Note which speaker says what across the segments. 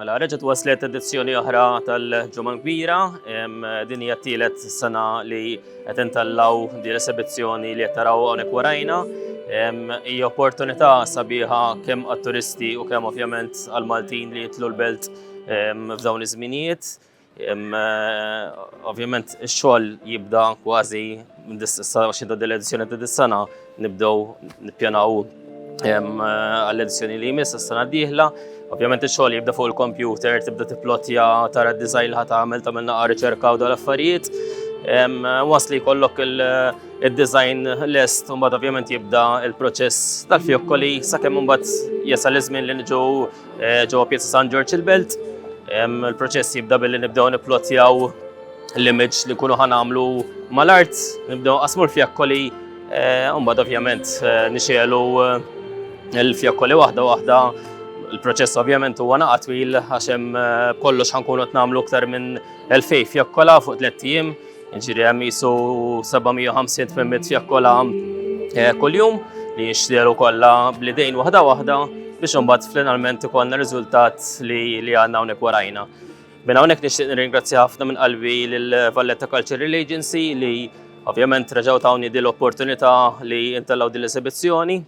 Speaker 1: Mela, reġet waslet edizzjoni oħra tal-ġumma kbira, din hija t-tielet sena li qed intallaw din l-esibizzjoni li qed taraw hawnhekk warajna. Hija opportunità sabiħa kemm għat-turisti u kemm ovvjament għall-Maltin li jitlu l-belt f'dawn iż-żminijiet. Ovvjament ix-xogħol jibda kważi sa xinta dil-edizzjoni ta' dis-sena nibdew nippjanaw għall-edizzjoni li jmiss is-sena d-dieħla. Ovvjament ix-xogħol jibda fuq il-kompjuter, tibda tiplotja tara d-design li ħat tagħmel tagħmel naqa' riċerka u dal affarijiet. Wasli jkollok il-design lest, mbagħad ovvjament jibda il-proċess tal-fjokkoli sakemm mbagħad jasal iż-żmien li niġu Eh, ġewwa Pjazza San Ġorġ il-Belt, il-proċess jibda billi nibdew nipplotjaw l-image li kunu ħanamlu mal-art, nibdew qasmu l-fjakkoli, eh, mbagħad ovvjament eh, nixelu l-fjakkoli waħda waħda Il-proċess ovvjament huwa naqa' twil għax hemm kollox ħankunu qed nagħmlu aktar minn 2000 fjakkola fuq tliet ijiem. Ġiri hemm jisu 750 tmemmet fjakkola eh, kuljum li jinxteru kollha bl-idejn waħda waħda biex imbagħad finalment ikollna riżultat li li għandna hawnhekk warajna. Minn hawnhekk nixtieq nirringrazzja ħafna minn qalbi lil Valletta Cultural Agency li ovvjament reġgħu tawni din l-opportunità li intellgħu din l-esibizzjoni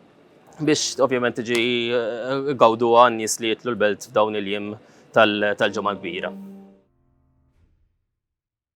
Speaker 1: biex ovvjament tiġi eh, gawdu għan nies li jitlu l-belt f'dawn il-jiem tal-ġimgħa kbira.